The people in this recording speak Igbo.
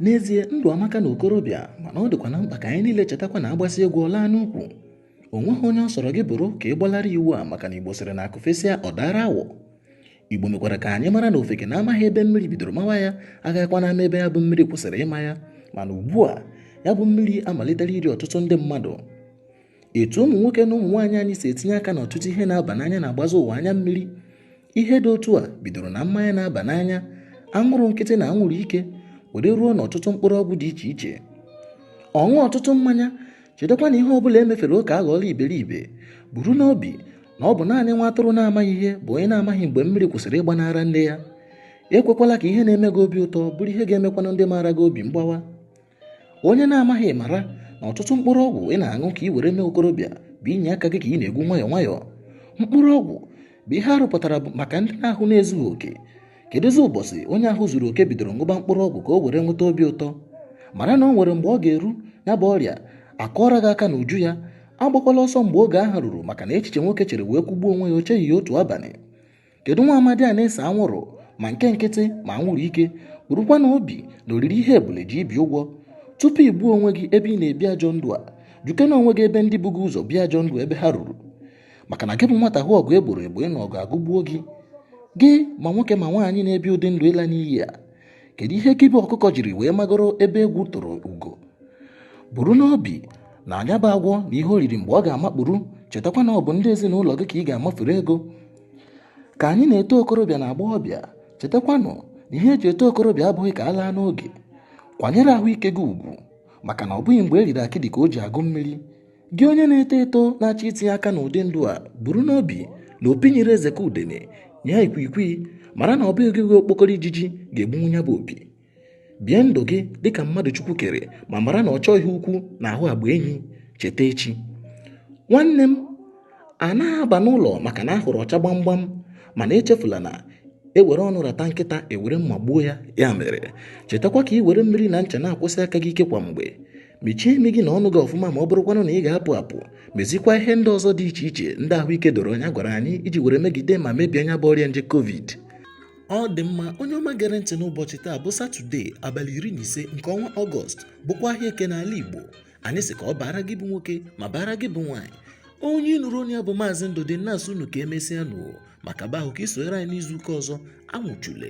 n'ezie ndụ amaka na okorobịa mana ọ dịkwa na mkpa ka anyị niile chetakwa na a gbasịa egwu ọ laa n'ukwu o nweghị onye ọ sọrọ gị bụrụ ka ị gbalara iwu a maka na igbo sịrị na akụ fesịa ọ daara awọ igbo mekwara ka anyị mara na ofeke na-amaghị ebe mmiri bidoro mawa ya agaghịkwanụ ama ebe ya bụ mmiri kwụsịrị ịma ya mana ugbu a ya bụ mmiri amalitela iri ọtụtụ ndị mmadụ etu ụmụ nwoke na ụmụ nwaanyị anyị si etinye aka n'ọtụtụ ihe na-aba n'anya na-agbazi ụwa anya mmiri ihe dị otu a bidoro na mmanya na-aba n'anya anwụrụ nkịtị na anwụrụ ike were ruo n'ọtụtụ mkpụrụ ọgwụ dị iche iche ọṅụ ọtụtụ mmanya chetakwa na ihe ọ bụla e mefere oke aghọọla iberibe buru n'obi na ọ bụ naanị nwa atụrụ na-amaghị ihe bụ onye na-amaghị mgbe mmiri kwụsịrị ịgba n'ara nne ya ekwekwala ka ihe na-eme gị obi ụtọ bụrụ ihe ga-emekwanụ ndị maara gị obi mgbawa onye na-amaghị mara na ọtụtụ mkpụrụ ọgwụ ị na-aṅụ ka i were mee okorobịa bụ ini aka gị ka ị na-egwu nwayọọ nwayọọ mkpụrụ ọgwụ bụ ihe a rụpụtara maka ndị na ahụ na-ezughị oke kedụzi ụbọchị onye ahụ zuru oke bidoro ṅụba mkpụrụ ọgwụ ka o were nweta obi ụtọ mara na o nwere mgbe ọ ga-eru ya bụ ọrịa akụọrọ gị aka n'uju ya agbakwala ọsọ mgbe oge ahụ ruru maka na echiche nwoke chere wee kwụgbuo onwe ya o cheghị ya otu abalị kedu nwa amadi a na-ese anwụrụ ma nke nkịtị ma anwụrụ ike burukwa na obi na o riri ihe ebule ji ibi ụgwọ tupu i gbuo onwe gị ebe ị na-ebi ajọ ndụ a jụkene onwe gị ebe ndị bu gị ụzọ bie ajọ ndụ ebe ha ruru maka na gị bụ nwata hụ ọgụ e gboro egbo ịnụ ọgụ agụgbuo gị gị ma nwoke ma nwaanyị na-ebi ụdị ndụ ịla n'iyi a kedu ihe gị bụ ọkụkọ jiri wee magoro ebe egwu tụrụ ugo buru n'obi na nya bụ agwọ na ihe o riri mgbe ọ ga-amakpuru chetakwa na ọ bụ ndị ezinụlọ gị ka ị ga-amafere ego ka anyị na-eto okorobịa na agbọghọbịa chetakwanụ na ihe e ji eto okorobịa abụghị ka a laa n'oge kwanyere ahụike gị ugwu maka na ọ bụghị mgbe e riri akịdị ka o ji agụ mmiri gị onye na-eto eto na-achọ itinye aka n'ụdị ndụ a buru n'obi na opi nyịrị eze ka udene nyịa ikwikwii mara na ọ bụghị gị okpokoro ijiji ga-egbunwu ya bụ opi bie ndụ gị dịka mmadụ chukwu kere ma mara na ọchọ ihe ukwu na-ahụ agba enyi cheta echi nwanne m a na-aba n'ụlọ maka na a hụrụ ọcha gbamgbam mana echefula na e were ọnụ rata nkịta e were mma gbuo ya ya mere chetakwa ka i were mmiri na ncha na-akwọsi aka gị ike kwa mgbe mechie imi gị na ọnụ gị ọfụma ma ọ bụrụkwanụ na ị ga-apụ apụ mezikwa ihe ndị ọzọ dị iche iche ndị ahụike doro anya gwara anyị iji were megide ma mebie nya bụ ọrịa nje covid Ọ dị mma onye ọma gere ntị n'ụbọchị taa bụ Satọde abalị iri na ise nke ọnwa Ọgọst bụkwa ahịa Eke n'ala Igbo anyị sị ka ọ baara gị bụ nwoke ma baara gị bụ nwaanyị onye ị nụrụ onu ya bụ Maazị Ndụdị na-asị unu ka e mesịa nụ maka ba ahụ ka i sonyere anyị n'izu ụka ọzọ anwụchule